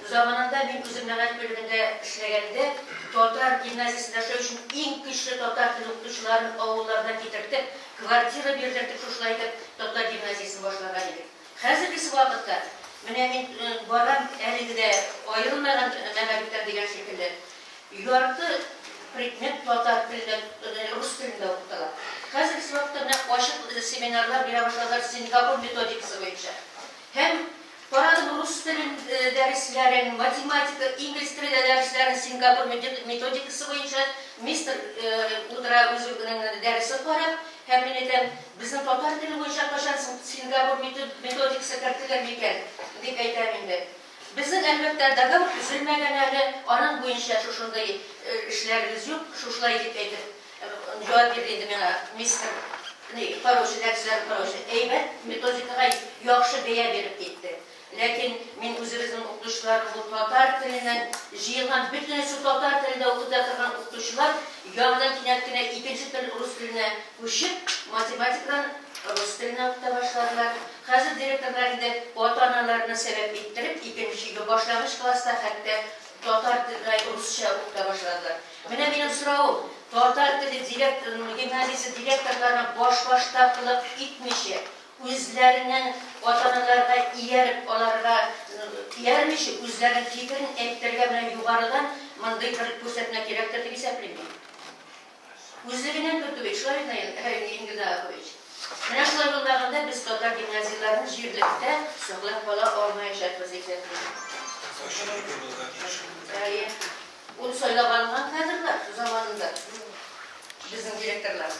Заманында мин үзем мәгариф бүлегендә эшләгәндә, татар гимназиясендә эшләү өчен иң көчле татар теле укытучыларын авылларына китертеп, квартира бирерләр дип шушылай итеп татар гимназиясен башлаган идек. Хәзергесе вакытта, менә мин барам әлеге дә аерылмаган мәгарифтән дигән шикелле, ярты предмет татар телендә, рус телендә укытыла. Хәзергесе вакытта менә ачык семинарлар бирә башладылар Сингапур методикасы буенча һәм, Карадым рус телен дәресләрен, математика, инглиз теле дәресләрен Сингапур методикасы буенча мистер утыра үзенең дәресен карап, һәм мин әйтәм, безнең татар теле буенча кайчан соң Сингапур методикасы кертелер микән, дип әйтәм инде. Безнең, әлбәттә, договор төзелмәгән әле, аның буенча шушындый эшләребез юк, шушылай дип әйтеп. Җавап бирде инде миңа мистер Ли. Хороший, дәресләре хороший, әйбәт, методикага яхшы бәя биреп китте. Ләкин мин үзебезнең укытучылар бу татар теленнән җыелган, бөтенесе татар телендә укыта торган укытучылар яныннан кинәт кенә икенче тел рус теленә күчеп, математикадан рус теленә укыта башладылар. Хәзер директорлар инде ата-аналарны сәбәп иттереп, икенче башлагыч класста хәтта татар тел русча укыта башладылар. Менә минем соравым, татар теле директорының гимназиясе директорларына баш-башта кылык итмичә, үзләренең ата-аналарга ияреп, аларга иярмичә, үзләренең фикерен әйтергә менә югарыдан мондый бер күрсәтмә кирәктер дип исәплим мин. Үзлегеннән көтү бит, шулай гына инде, Ингида Акович. Менә шулай булмаганда без татар гимназияләрен җирлектә саклап кала алмаячакбыз икән. Ачык әйтеп булырга тиеш. Әйе. Ул сайлап алынган кадрлар заманында безнең директорлар.